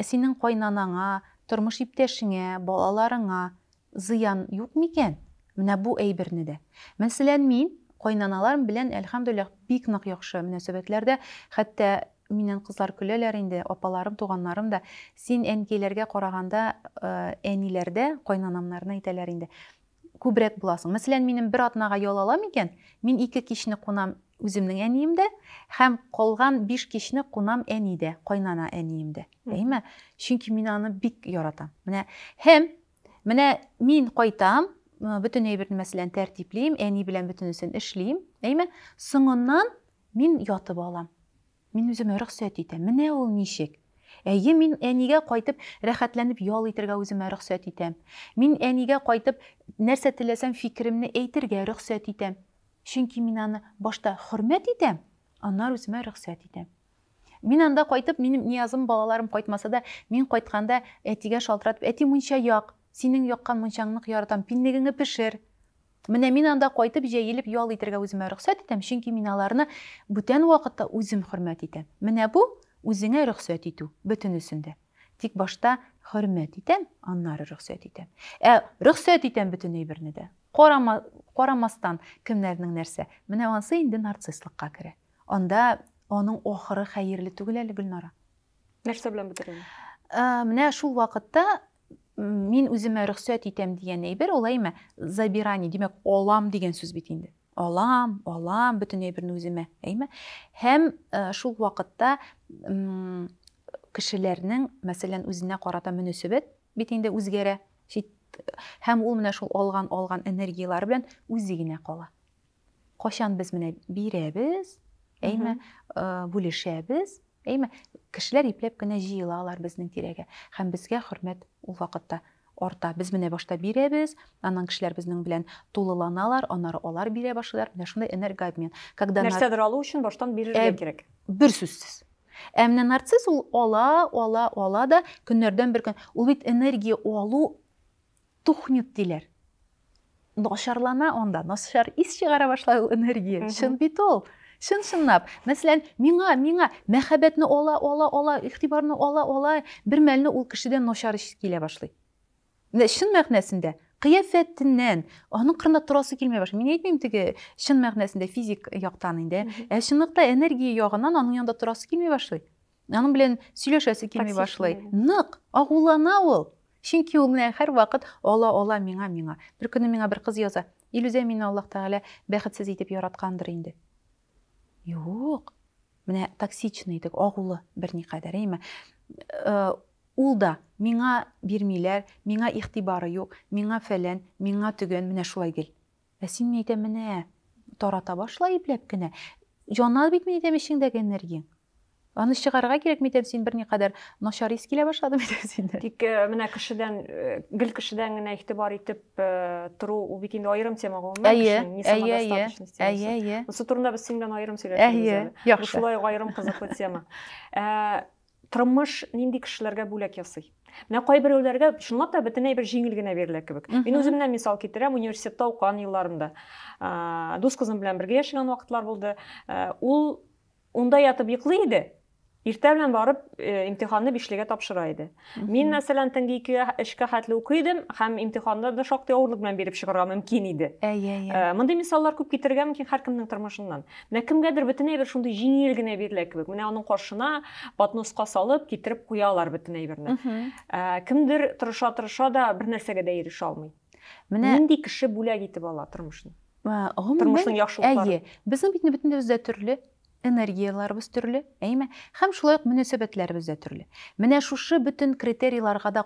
синең кайнанаңа, тормыш иптәшеңә, балаларыңа Зыян юк микән? Менә бу әйберне дә. Мәсәлән, мин кайнаналарым белән, әлхәмдүлилләһ, бик нык яхшы мөнәсәбәтләрдә. Хәтта миннән кызлар көләләр инде, апаларым, туганнарым да, Син әнкәйләргә караганда, әниләр дә кайнанамнарны әйтәләр инде, күбрәк буласың. Мәсәлән, минем бер атнага ял ала микән? Мин ике кичне кунам үземнең әниемдә һәм калган биш кичне кунам әнидә, кайнана әниемдә. Әйме? Чөнки мин аны бик яратам. Менә һәм Менә мин кайтам, бөтен әйберне мәсәлән тәртиплим, әни белән бөтенесен эшлим, әйме? Соңыннан мин ятып алам. Мин үземә рөхсәт итәм. Менә ул ничек. Әйе, мин әнигә кайтып рәхәтләнеп ял итергә үземә рөхсәт итәм. Мин әнигә кайтып нәрсә теләсәм фикеремне әйтергә рөхсәт итәм. Чөнки мин аны башта хөрмәт итәм, аннары үземә рөхсәт итәм. Мин анда кайтып, минем Ниязым, балаларым кайтмаса да, мин кайтканда, әтигә шалтыратып, Әти, мунча як! Синең яккан мунчаңны нык яратам, пиннегеңне пешер! Менә мин анда кайтып, җәелеп ял итәргә үземә рөхсәт итәм, чөнки мин аларны бүтән вакытта үзем хөрмәт итәм. Менә бу, үзеңә рөхсәт итү, бөтенесен дә. Тик башта хөрмәт итәм, аннары рөхсәт итәм. Ә рөхсәт итәм бөтен әйберне дә. Карама, карамастан, кемнәрнең нәрсә. Менә ансы инде нарцисслыкка керә. Анда аның ахыры хәерле түгел әле, Гөлнара. Нәрсә белән бетерелгән? Ә, менә шул вакытта мин үземә рөхсәт итәм дигән әйбер ул әйме забирание, димәк, алам дигән сүз бит инде. Алам, алам бөтен әйберне үземә, әйме? Һәм ә, шул вакытта кешеләрнең, мәсәлән, үзенә карата мөнәсәбәт бит инде үзгәрә. Һәм ул менә шул алган алган энергияләре белән үзе генә кала. Качан без менә бирәбез, әйме, бүлешәбез, әйме, кешеләр ипләп кенә җыелалар безнең тирәгә. Һәм безгә хөрмәт ул вакытта арта. Без менә башта бирәбез, аннан кешеләр безнең белән тулыланалар, аннары алар бирә башлыйлар. Менә шундый энергообмен. Когда нәрсәдер алу өчен баштан бирергә э, кирәк. Бер сүзсез. Ә менә нарцисс ул ала, ала, ала да көннәрдән бер көн. Ул бит энергия алу Тухнет диләр. Начарлана анда, начар ис чыгара башлай ул энергия. Чын бит ул. Чын-чынлап. Мәсәлән, миңа, миңа мәхәббәтне ала, ала, ала, игътибарны ала, ала, бер мәлне ул кешедән начар ис килә башлый. Менә чын мәгънәсендә кыяфәтеннән аның кырында торасы килмәй башлый. Мин әйтмим теге чын мәгънәсендә физик яктан инде, ә чынлыкта энергия ягыннан аның янында торасы килмәй башлый. Аның белән сөйләшәсе килми башлый. Нык агулана ул. Чөнки ул менә һәрвакыт ала ала миңа миңа. Бер көнне миңа бер кыз яза. Илүзә мине Аллаһ Тәгалә бәхетсез итеп яраткандыр инде. Юк. Менә токсичный идек, агулы берникадәр, әйме. Э, ул да миңа бирмиләр, миңа игътибары юк, миңа фәлән, миңа төгән, менә шулай гел. Ә син, мин әйтәм, менә, тарата башла ипләп кенә. Яна бит, мин әйтәм, эчеңдәге энергияң. Аны чыгарырга кирәк, мин әйтәм, син берникадәр начар ис килә башлады, мин әйтәм, синдә. Тик э, менә кешедән, э, гел кешедән генә игътибар итеп э, тору, ул бит инде аерым тема гомумән Әйе, кешенең не әйе, әйе, самодостаточность әйе, темасы. әйе. Монысы турында без синең белән аерым сөйләшербез Әйе, әле. Бу яхшы. шулай ук аерым кызыклы тема. Ә, тормыш нинди кешеләргә бүләк ясый? Менә кайберәүләргә чынлап та бөтен әйбер җиңел генә бирелә кебек. Мин үземнән мисал китерәм, университетта укыган елларымда. Дус кызым белән бергә яшәгән вакытлар булды. Ул унда ятып йоклый иде, иртә белән барып э, имтиханны бишлегә тапшыра иде. Мин, мәсәлән, төнге икегә, өчкә хәтле укый идем һәм имтиханда да шактый авырлык белән биреп чыгарга мөмкин иде. Ә, ә, ә. Мондый мисаллар күп китерергә мөмкин һәркемнең тормышыннан. Менә кемгәдер бөтен әйбер шундый җиңел генә бирелә кебек. Менә аның каршына подноска салып, китереп куялар бөтен әйберне. Ә, кемдер тырыша-тырыша да бер нәрсәгә дә ирешә алмый. Менә нинди кеше бүләк итеп ала тормышны? Тормышның яхшылыклары. Әйе, безнең бит бөтенебез дә төрле, энергияләребез төрле, әйме? Һәм шулай ук мөнәсәбәтләребез дә төрле. Менә шушы бөтен критерийларга да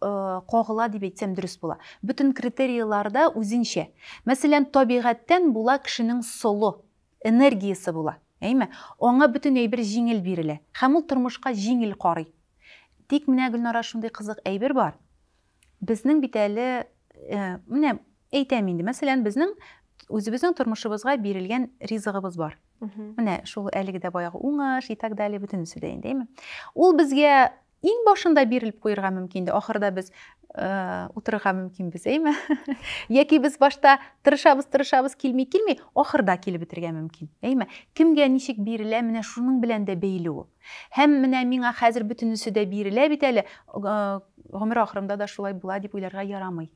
кагыла дип әйтсәм дөрес була. Бөтен критерийлар да үзенчә. Мәсәлән, табигатьтән була кешенең солы, энергиясе була. Әйме? Аңа бөтен әйбер җиңел бирелә. Һәм ул тормышка җиңел карый. Тик менә, Гөлнара, шундый кызык әйбер бар. Безнең бит әле, менә әйтәм инде, мәсәлән, безнең үзебезнең тормышыбызга бирелгән ризыгыбыз бар. Менә шул әлеге дә баягы уңыш и так далее бөтенесе дә инде, әйме? Ул безгә Иң башында бирелеп куерга мөмкин инде, ахырда без э, утырырга мөмкинбез, әйме? Яки без башта тырышабыз, тырышабыз, килми, килми, ахырда килеп бетергә мөмкин, әйме? Кемгә ничек бирелә, менә шуның белән дә бәйле ул. Һәм менә миңа хәзер бөтенесе дә бирелә бит әле, э, гомер ахырымда да шулай була дип уйларга ярамый.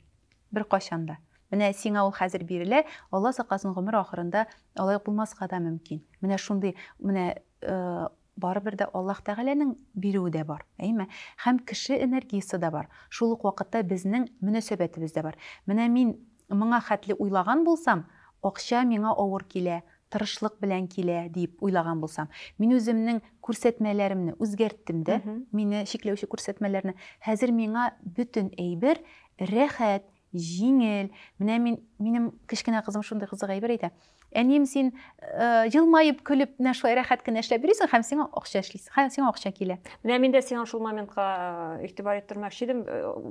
Бер качан да. Менә сиңа ул хәзер бирелә, Алла сакласын гомер ахырында алай булмаска да мөмкин. Менә шундый, менә э, Барыбер дә Аллаһ Тәгаләнең бирүе дә бар, әйме? Һәм кеше энергиясе дә бар, шул ук вакытта безнең мөнәсәбәтебез дә бар. Менә мин моңа хәтле уйлаган булсам, акча миңа авыр килә, тырышлык белән килә, диеп уйлаган булсам, мин үземнең күрсәтмәләремне үзгәрттем дә, мине чикләүче күрсәтмәләрне. Хәзер миңа бөтен әйбер рәхәт, Җиңел. Менә мин, минем кечкенә кызым шундый кызык әйбер әйтә. Әнием, син елмаеп, көлеп, менә шулай рәхәт кенә эшләп йөрисең һәм сиңа акча эшлисең, һәм сиңа акча килә. Менә мин дә сиңа шул моментка игътибар иттермәкче идем.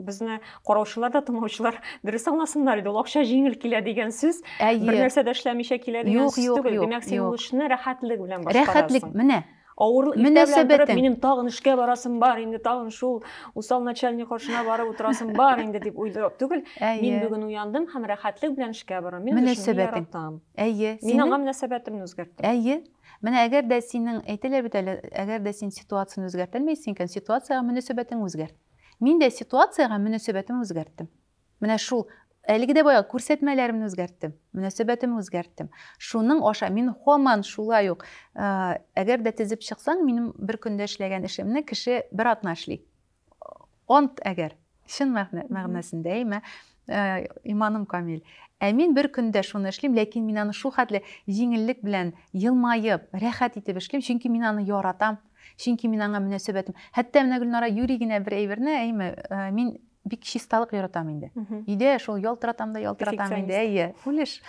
Безне караучылар да, тыңлаучылар дөрес аңласыннар иде. Ул акча җиңел килә дигән сүз, бер нәрсә дә эшләмичә килә дигән сүз түгел. Димәк, син ул эшне рәхәтлек белән башкарасың. Рәхәтлек, менә. Авырлык иртә белән торып, минем тагын эшкә барасым бар, инде тагын шул усал начальник каршына барып утырасым бар инде дип уйлап түгел. Мин бүген уяндым һәм рәхәтлек белән эшкә барам. Мин эшне яратам. Әйе. Мин аңа мөнәсәбәтемне үзгәрттем. Әйе. Менә әгәр дә синең әйтәләр бит әле, әгәр дә син ситуацияне үзгәртә алмыйсың икән, ситуациягә мөнәсәбәтең үзгәрт. Мин дә ситуациягә мөнәсәбәтем үзгәрттем. Менә шул. Әлеге дә бая күрсәтмәләремне үзгәрттем, мөнәсәбәтемне үзгәрттем. Шуның аша мин һаман шулай ук, әгәр дә тезеп чыксаң, минем бер көндә эшләгән эшемне кеше бер атна эшли. Ант әгәр, чын мәгънәсендә, әйме, иманым камил. Ә мин бер көндә шуны эшлим, ләкин мин аны шул хәтле җиңеллек белән, елмаеп, рәхәт итеп эшлим, чөнки мин аны яратам, чөнки мин аңа мөнәсәбәтем. Хәтта менә Гөлнара юри генә бер әйберне, әйме, мин Бик чисталык яратам инде. Өйдә шул ялтыратам да ялтыратам инде. Әйе, үлеш.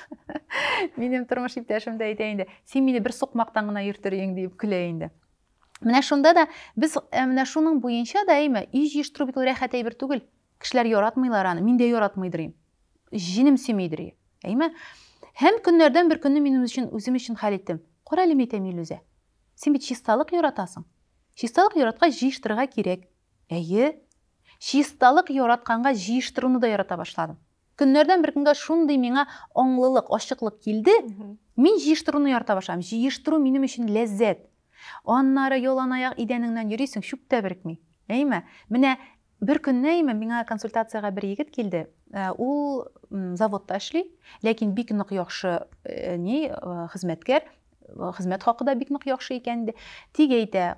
Минем тормыш иптәшем дә әйтә инде, син мине бер сукмактан гына йөртер идең дип көлә инде. Менә шунда да без э, менә шуның буенча да әйме, өй җыештыру бит ул рәхәт әйбер түгел. Кешеләр яратмыйлар аны, мин дә яратмыйдыр идем. Җенем сөймидер идем. Әйме? Һәм көннәрдән бер көнне мин үзем өчен, үзем өчен хәл иттем. Кара әле, әйтәм, Илүзә, син бит чисталык яратасың. Чисталык яраткач, җыештырырга кирәк. Әйе, чисталык яратканга җыештыруны да ярата башладым. Көннәрдән бер көнгә шундый миңа аңлылык, ачыклык килде, мин җыештыруны ярата башладым. Җыештыру минем өчен ләззәт. Аннары яланаяк идәнеңнән йөрисең, чүп тә беркми. Әйме? Менә бер көнне әйме миңа консультациягә бер егет килде. Э, ул заводта эшли, ләкин бик нык яхшы э, ни э, хезмәткәр, хезмәт хакы да бик нык яхшы икән инде. Тик әйтә,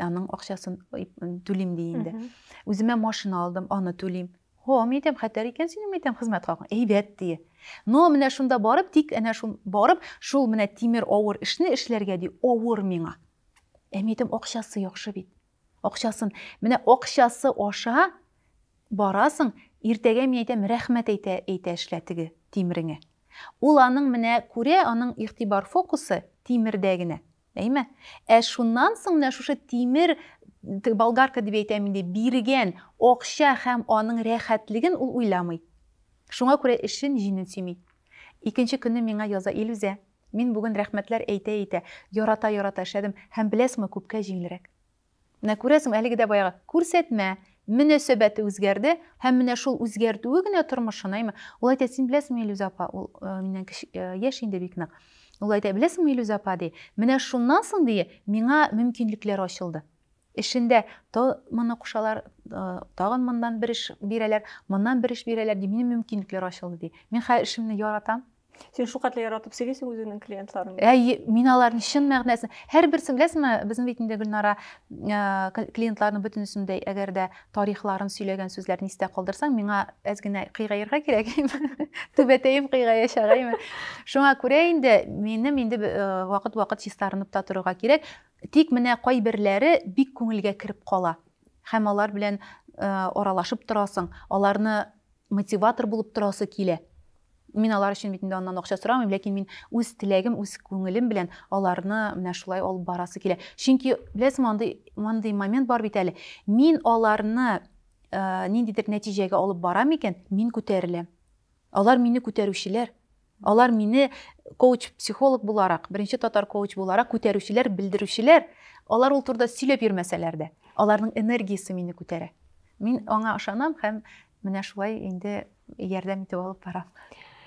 Аның акчасын түлим ди инде. Үземә машина алдым, аны түлим. Хо, мин әйтәм, хәтәр икән синең әйтәм хезмәт хакың. Әйбәт ди. Но менә шунда барып, тик әнә шул барып, шул менә тимер авыр эшне эшләргә ди, авыр миңа. Ә мин әйтәм, акчасы яхшы бит. Акчасын, менә акчасы аша барасың, иртәгә мин әйтәм, рәхмәт әйтә, әйтә эшлә теге тимреңә. Ул аның менә күрә, аның игътибар фокусы тимердә генә. Әйме? Ә шуннан соң менә шушы тимер болгарка дип әйтәм инде, биргән акча һәм аның рәхәтлеген ул уйламый. Шуңа күрә эшен, җинен сөйми. Икенче көнне миңа яза Илүзә. Мин бүген рәхмәтләр әйтә-әйтә, ярата-ярата эшләдем һәм беләсеңме, күпкә җиңелрәк. Менә күрәсеңме, әлеге дә баягы күрсәтмә мөнәсәбәте үзгәрде һәм менә шул үзгәртүе генә тормышын, әйме? Ул әйтә, син беләсеңме, Илүз апа, ул э, миннән кече, э, яшь инде бик нык. Ул әйтә, беләсеңме, Илүз апа, ди, менә шуннан соң, ди, миңа мөмкинлекләр ачылды. Эшендә то моны кушалар, э, тагын моннан бер эш бирәләр, моннан бер эш бирәләр, ди, минем мөмкинлекләр ачылды, ди. Мин хәзер эшемне яратам, сен шулкадәр яратып сөйлисең үзеңнең клиентларыңны әйе мин аларны чын мәгънәсен һәрберсен беләсеңме безнең бит инде гөлнара э, клиентларның бөтенесен дә әгәр дә тарихларын сөйләгән сүзләрен истә калдырсаң миңа әз генә кыйгаерга кирәк түбәтәем кыйгая чагаймы шуңа күрә инде минем инде э, вакыт вакыт чистарынып та торырга кирәк тик менә кайберләре бик күңелгә кереп кала һәм алар белән э, аралашып торасың аларны мотиватор булып торасы килә мин алар өчен бит инде аннан акча сорамыйм ләкин мин үз теләгем үз күңелем белән аларны менә шулай алып барасы килә чөнки беләсеңме андый мондый момент бар бит әле мин аларны ә, ниндидер нәтиҗәгә алып барам икән мин күтәреләм алар мине күтәрүчеләр Алар мине коуч, психолог буларак, беренче татар коуч буларак күтәрүчеләр, белдерүчеләр. Алар ул турыда сөйләп йөрмәсәләр дә, аларның энергиясе мине күтәрә. Мин аңа ышанам һәм менә шулай инде ярдәм итеп алып барам.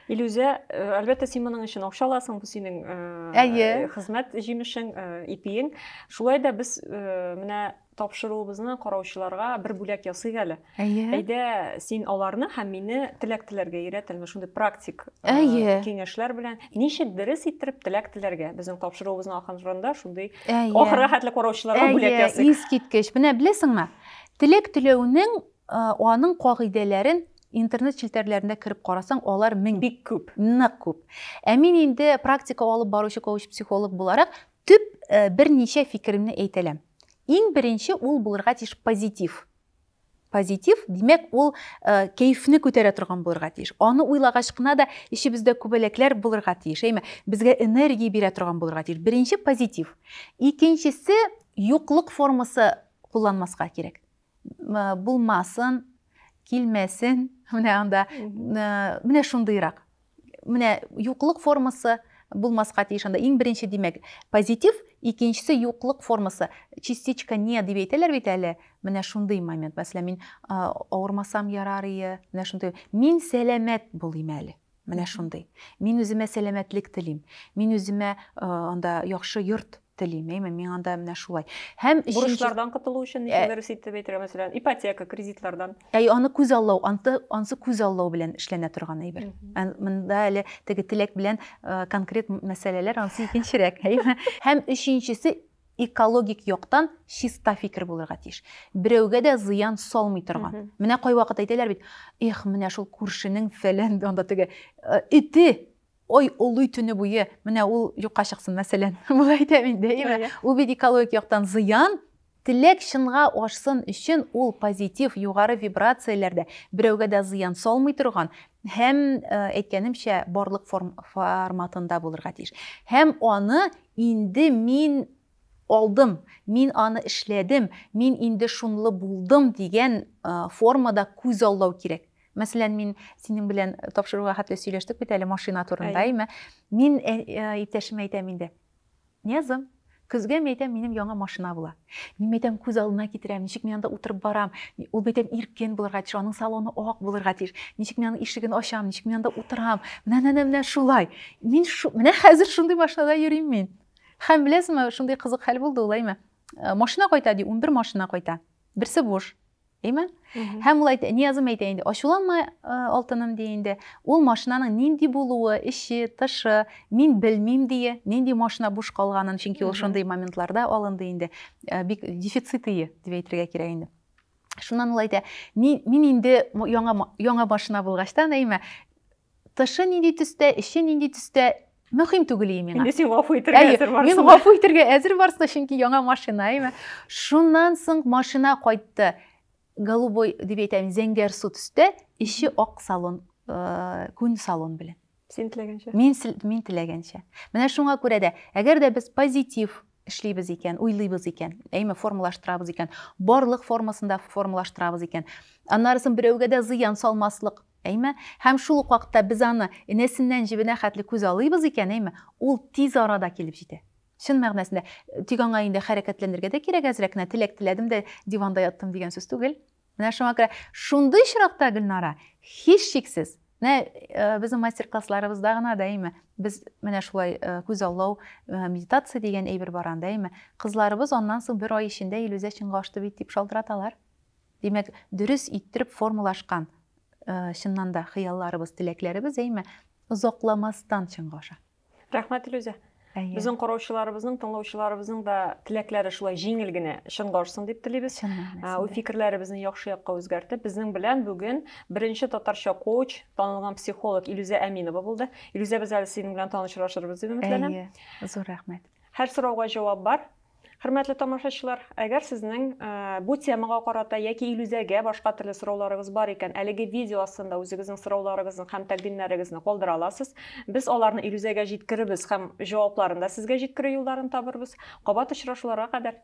Илүзә, э, әлбәттә, син моның өчен акча аласың, бу синең э, хезмәт җимешең, э, ипиең. Шулай да без менә тапшыруыбызны караучыларга бер бүләк ясыйк әле. Әйе. Әйдә, син аларны һәм мине теләк теләргә өйрәт, әле шундый практик э, Әйе. киңәшләр белән. Ничек дөрес иттереп теләк теләргә? Безнең тапшыруыбызның ахырында шундый ох рәхәтле караучыларга бүләк ясыйк. Әйе, искиткеч. Менә беләсеңме? Теләк теләүнең э, аның кагыйдәләрен интернет челтәрләренә кереп карасаң, алар мең. Бик күп. Нык күп. Ә мин инде практика алып баручы коуч-психолог буларак, Төп берничә фикеремне әйтәләм. Иң беренче ул булырга тиеш позитив. Позитив, димәк, ул кәефне күтәрә торган булырга тиеш. Аны уйлагач кына да эчебездә күбәләкләр булырга тиеш, әйме, безгә энергия бирә торган булырга тиеш. Беренче позитив. Икенчесе юклык формасы кулланмаска кирәк. булмасын, килмәсен, менә анда менә шундыйрак. Менә юклык формасы булмаска тиеш анда. Иң беренче димәк, позитив, икенчесе юклык формасы. Частичка не дип әйтәләр бит әле. Менә шундый момент. Мәсәлән, мин авырмасам ярар ие. Менә шундый. Мин сәламәт булыйм әле. Менә шундый. Мин үземә сәламәтлек телим. Мин үземә анда яхшы йорт телим, әйме, мин анда менә шулай. Һәм бурычлардан котылу өчен ничә дөрес итеп әйтергә, мәсәлән, ипотека, кредитлардан. Әй, аны күз аллау, анты, ансы күз аллау белән эшләнә торган әйбер. Монда әле теге теләк белән э, конкрет мәсьәләләр ансы икенчерәк, әйме. Һәм өченчесе экологик яктан чиста фикер булырга тиеш. Берәүгә дә зыян салмый торган. Менә кайвакыт әйтәләр бит, эх, менә шул күршенең фәлән анда теге э, ите ой олый төне буе менә ул юкка чыксын мәсәлән болай әйтәм инде әйеме ул бит экологик яктан зыян теләк чынга ашсын өчен ул позитив югары вибрацияләрдә берәүгә дә зыян салмый торган һәм э, әйткәнемчә барлык форм, форматында булырга тиеш һәм аны инде мин алдым мин аны эшләдем мин инде шунлы булдым дигән э, формада күзаллау кирәк Мәсәлән, мин синең белән тапшыруга хәтле сөйләштек бит әле машина турында, әйме? Мин э, э, иптәшемә әйтәм инде. Нязым, көзгә мин әйтәм, минем яңа машина була. Мин әйтәм, күз алдына китерәм, ничек мин анда утырып барам. Ул әйтәм, иркен булырга тиеш, аның салоны ак булырга тиеш. Ничек мин аның ишеген ачам, ничек мин анда утырам. Менә менә менә шулай. Мин шу, менә хәзер шундый машинада йөрим мин. Һәм беләсеңме, шундый кызык хәл булды ул, әйме? Э, машина кайта ди, 11 машина кайта. Берсе буш. Әйме? Һәм ул әйтә, Ниязым әйтә инде, ачуланма, алтыным ди инде. Ул машинаның нинди булуы, эче, тышы, мин белмим дие, нинди машина буш калганын, чөнки ул шундый моментларда алынды инде. Бик дефицит ие, дип әйтергә кирәк инде. Шуннан ул әйтә, мин инде яңа яңа машина булгачтан, әйме, Тышы нинди төстә, эче нинди төстә, мөһим түгел ие миңа. Инде син гафу итәргә әзер барсың. Мин гафу итәргә әзер барсың, чөнки яңа машина, әйме. Шуннан соң машина кайтты. Голубой дип әйтәм, зәңгәр су төстә, эче ак салон, э, күн салон белән. Син теләгәнчә. Мин мин теләгәнчә. Менә шуңа күрә дә, әгәр дә без позитив эшлибез икән, уйлыйбыз икән, әйме формалаштырабыз икән, барлык формасында формалаштырабыз икән. Аннарысын берәүгә дә зыян салмаслык, әйме, һәм шул ук вакытта без аны энәсеннән җебенә хәтле күз алыйбыз икән, әйме, ул тиз арада килеп җитә. Чын мәгънәсендә, тик аңа инде хәрәкәтләнергә дә кирәк әзрәк кенә, теләк теләдем дә диванда яттым дигән сүз түгел. Менә шуңа күрә шундый очракта Гөлнара, һичшиксез, менә э, безнең мастер-классларыбызда гына да әйме, без менә шулай э, күз аллау э, медитация дигән әйбер бар анда әйме. Кызларыбыз аннан соң бер ай эчендә Илүзә чынга ашты бит дип шалтыраталар. Димәк, дөрес иттереп формалашкан чыннан да хыялларыбыз, теләкләребез әйме, озакламастан чынга аша. рәхмәт илүзә әйе безнең караучыларыбызның тыңлаучыларыбызның да теләкләре шулай җиңел генә чынга ашсын дип телибез ул фикерләребезне яхшы якка үзгәртеп безнең белән бүген беренче татарча коуч танылган психолог илүзә әминова булды илүзә без әле синең белән танышырашырбыз дип өметләнәм әйе зур рәхмәт һәр сорауга җавап бар Хөрмәтле тамашачылар, әгәр сезнең бу темага карата яки Илүзәгә башка төрле сорауларыгыз бар икән, әлеге видео астында үзегезнең сорауларыгызны һәм тәкъдимнәрегезне калдыра аласыз. Без аларны Илүзәгә җиткерербез һәм җавапларын да сезгә җиткерү юлларын табырбыз. Кабат очрашуларга кадәр!